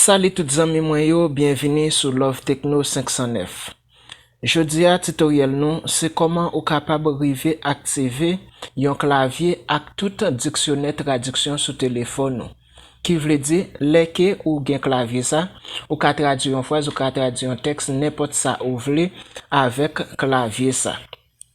Salut tout zanmi mwen yo byenvini sou love tecno 509 jodia tutoriel nou se koman ou kapab rive aktive yon klavye ak tout diksyonè tradiksyon sou telefon ou ki vle di lè ke ou gen klavye sa ou ka tradwi yon fraz ou ka tradwi yon tèks nenpòt sa ou vle avèk klavye sa.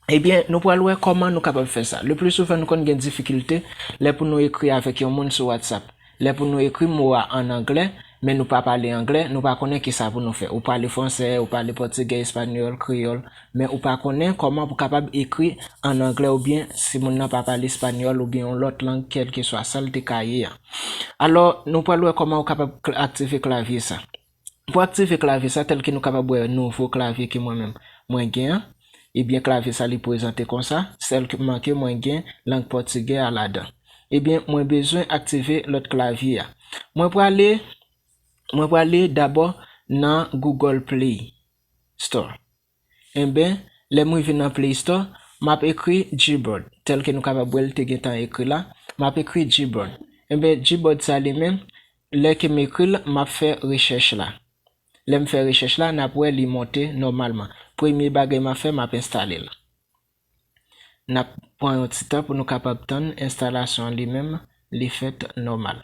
Ebyen, nou pral wè kòman nou kapab fè sa. Le pli souvan nou konn gen difikilte lè pou nou ekri avèk yon moun sou WhatsApp. Lè pou nou ekri mo a an anglè, men nou pa pale anglè, nou pa konnen kisa pou nou fè. Ou pale fransè, ou pale pòtigè, espanyòl, kreyòl, men ou pa konnen kòman pou kapab ekri an anglè oubyen si moun nan pa pale espanyòl oubyen yon lòt lang kèlkeswa sa l te ka ye a. Alò, nou pral wè kòman ou kapab aktive klavye sa. Pou aktive klavye sa tèlke nou kapab wè nouvo klavye ke mwen menm mwen gen an, ebyen klavye sa li pwezante konsa, sèlman ke mwen gen lang pòtigè a ladan. Ebyen mwen bezwen aktive lòt klavye a. Mwen prale mwen prale dabò nan Google Play Store. Enben, lè m rive nan Play Store, m ap ekri Gboard, tèlke nou kapab wè l te gen tan ekri la, m ap ekri Gboard. Enben, Gboard sa li menm, lè ke m ekri l, m ap fè rechèch la. Lè m fè rechèch la, n ap wè li monte nòmalman. Premye bagay m ap fè, m ap enstale l. N ap pran yon ti tan pou nou kapab tann enstalasyon an li menm li fèt nòmal.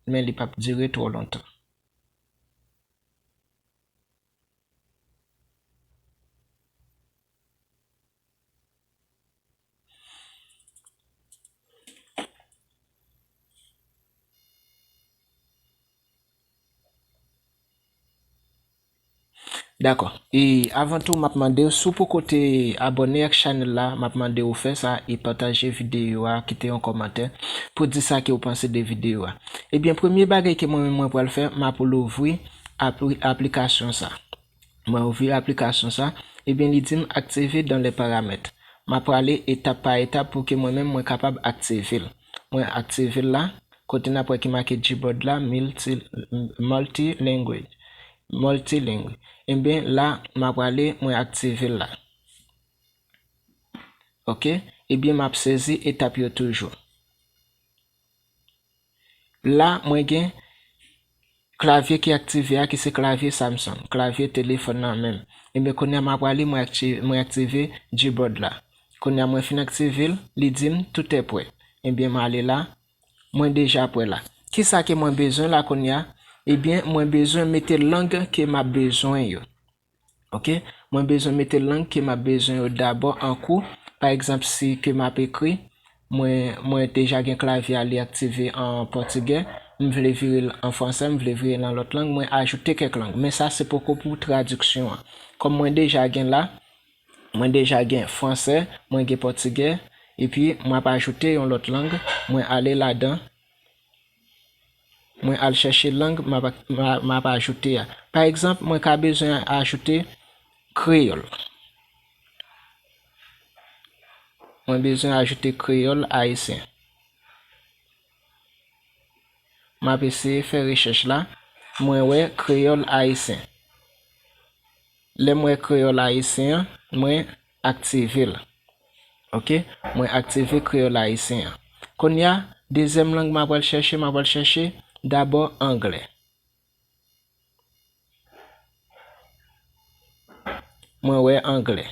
Men li p ap dire twò lontan. Dakò e avan tou map mande w si w poko te abòne ak chanèl la map mande w fè sa e pataje videyo a kite yon kòmantè pou di sa ke w panse de videyo a ebyen premye bagay ke mwen menm mwen pral fè map louvri Apri aplikasyon sa. Mwen ouvri aplikasyon sa, ebyen li dim active dans les paramètres. Ma prale etap pa etap pou ke mwen menm mwen kapab active l. Mwen active l la, kote nap wè ki make Gboard la multi multi language multiling ebyen la ma prale mwen active l la. Ok ebyen map sezi etap yo toujou. La mwen gen Klavye ki aktive a ki se klavye Samsung, klavye telefòn nan menm. Ebyen kounye a ma prale mwen aktive mwen aktive Gboard la. Kounye a mwen fin aktive l, li di m tout è prè. Ebyen m ale la, mwen deja prè la. Kisa ke mwen bezwen la kounye a? Ebyen mwen bezwen mete lang ke m ap bezwen yo. ok mwen bezwen mete lang ke map bezwen yo dabò an kou pa egzanp si ke map ekri mwen mwen deja gen klavye a li aktive an pòtigè m vle vire l an fransè m vle vire l an lòt lang mwen ajoute kèk lang men sa se poko pou tradiksyon an kòm mwen deja gen la mwen deja gen fransè mwen gen pòtigè epi map ajoute yon lòt lang mwen ale ladan Mwen al chèche lang m ap ajoute a. Pa egzanp, mwen ka bezwen ajoute kreyòl. Mwen bezwen ajoute kreyòl ayisyen. M ap eseye fè rechèch la. Mwen wè kreyòl ayisyen. Lè m wè kreyòl ayisyen an, mwen. Aktive l. Ok, mwen aktive kreyòl ayisyen an. Kounye a, dezyèm lang mwen apral chèche, mwen apral chèche dabò angle. Mwen wè angle.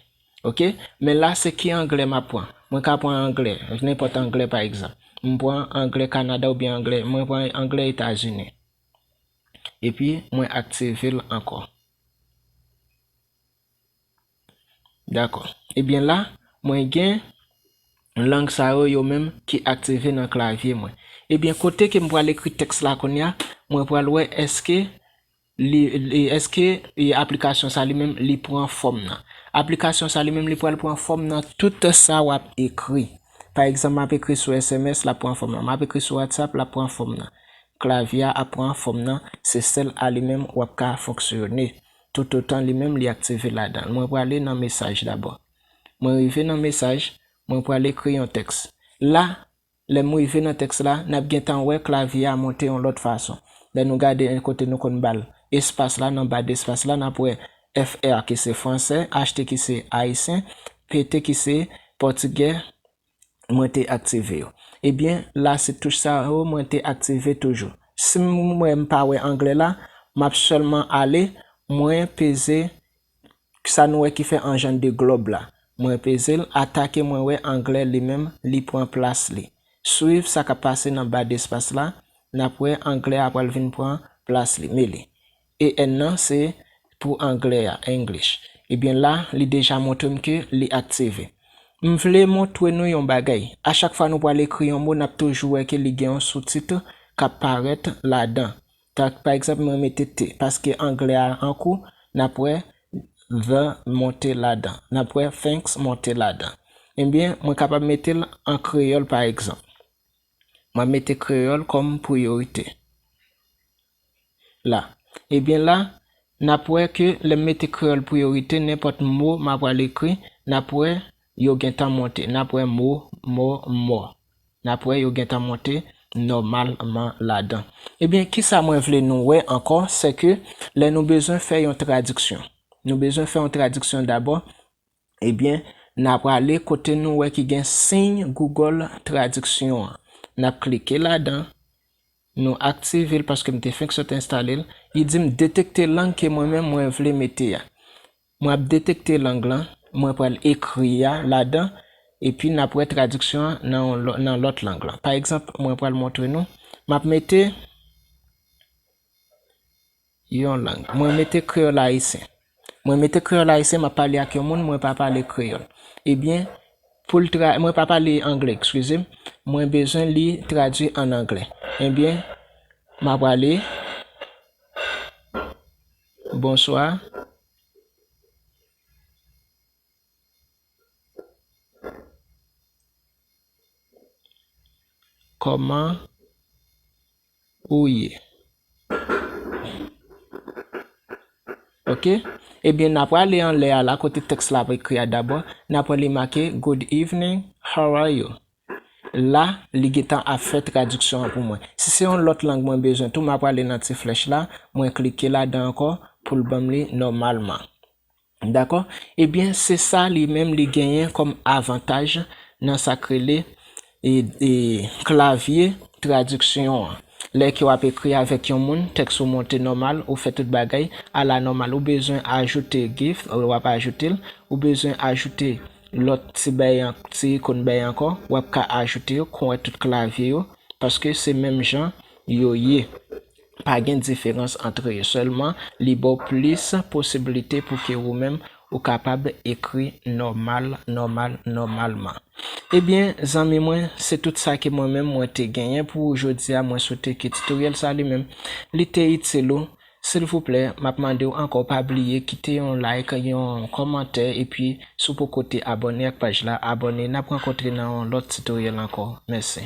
Ok, men la se ki angle m ap pran? Mwen ka pran angle, nenpòt angle pa egzanp. M pran angle Kanada oubyen angle, mwen pran angle Etazini. Epi mwen aktive l ankò. Dakò. Ebyen la, mwen gen lang sa yo yo menm ki aktive nan klavye mwen. Ebyen kote ke m pral ekri tèks la kounye a, mwen pral wè èske li, èske aplikasyon sa li menm li pran fòm nan. Aplikasyon sa li menm li pral pran fòm nan tout sa w ap ekri. Pa egzanp m ap ekri sou sms l ap pran fòm nan. M ap ekri sou whatsapp l ap pran fòm nan. Klavye a ap pran fòm nan, se sèl a li menm w ap ka fonksyone. Toutotan li menm li aktive ladan l. Mwen prale nan mesaj dabò. Mwen rive nan mesaj, mwen pral ekri yon tèks. La, lè m rive nan tèks la, n ap gen tan wè klavye a monte yon lòt fason. Lè nou gade en kote nou konn ba l espas la, nan ba despas la, n ap wè FR ki se franse, HT ki se ayisyen, PT ki se pòtigè, mwen te aktive yo. Ebyen la se touch sa yo mwen te aktive toujou. Si m wè m pa wè anglè la, m ap sèlman ale, mwen peze sa nou wè ki fè an jan de glòb la. Mwen peze l ata ke mwen wè anglè li menm li pran plas li. Swiv sa k ap pase nan ba despas la, n ap wè anglè a pral vin pran plas li. Meli. EN nan se pou anglè a, English. Ebyen la li deja montre m ke li aktive. M vle montre nou yon bagay, a chak fwa nou pwal ekri yon mo nap toujou wè ke li gen yon sous-titre kap parèt ladan. Tank pa egzanp mwen mete the paske anglè a an kou nap wè the monte ladan, nap wè thanks monte ladan. Ebyen mwen kapab mete l an kreyòl pa egzanp. Mwen mete kreyòl kòm priyorite. la. Ebyen la, n ap wè ke lè m mete kreyòl priyorite, nenpòt mo m apral ekri, n ap wè yo gen tan monte. N ap wè mo, mò, mò. N ap wè yo gen tan monte nòmalman ladan. Ebyen, kisa mwen vle nou wè ankò, sè ke lè nou bezwen fè yon tradiksyon, nou bezwen fè yon tradiksyon dabò Ebyen, n a prale kote nou wè ki gen siy Google Tradiksyon an. N ap klike ladan. Nou aktive l paske m te fenk sot enstale l. Li di m detekte lang ke mwen menm mwen vle mete a. Mwen ap detekte lang lan, mwen pral ekri a ladan, epi n ap wè tradiksyon an nan yon lòt nan lòt lang lan. Pa egzanp, mwen pral montre nou, m ap mete. Yon lang. Mwen mete kreyòl ayisyen. Mwen mete kreyòl ayisyen m ap pale ak yon moun mwen pa pale kreyòl. Ebyen, pou l tra, mwen pa pale angle, ekskize m, mwen bezwen li tradui ann angle. Ebyen, m a prale, Bonswa. Kòman. Ou ye. Ok. Ebyen na prale anlè a la kote tèks la ap ekri a dabò. Na pran li make Good evening, how are you? La, li gentan ap fè tradiksyon an pou mwen. Si se yon lòt lang mwen bezwen tou, ma prale nan ti flèch la, mwen klike ladan ankò pou l ban m li nòmalman. Dakò? Ebyen se sa li menm li genyen kòm avantaj nan sa k rele klavye tradiksyon an. Lè ke w ap ekri avèk yon moun, tèks ou monte nòmal, ou fè tout bagay ala nòmal. Ou bezwen ajoute gif, w ap ajoute l. Ou bezwen ajoute lòt ti bay, ti ikon bay ankò, w ap ka ajoute yo kon wè tout klavye yo, paske se menm jan yo ye. Pa gen diferans antre yo, sèlman li ba w plis posibilite pou ke wou menm ou kapab ekri nòmal, nòmal, nòmalman. Ebyen, zanmi mwen, se tout sa ke mwen menm mwen te genyen pou wou jodi a, mwen swete ke titoryèl sa li menm, li te itil ou. Silvouplè, m ap mande w ankò pa bliye kite yon like, yon kòmantè, epi si w poko te abòne ak paj la, abòne. N ap rankontre nan yon lòt titoryèl ankò. Mèsi.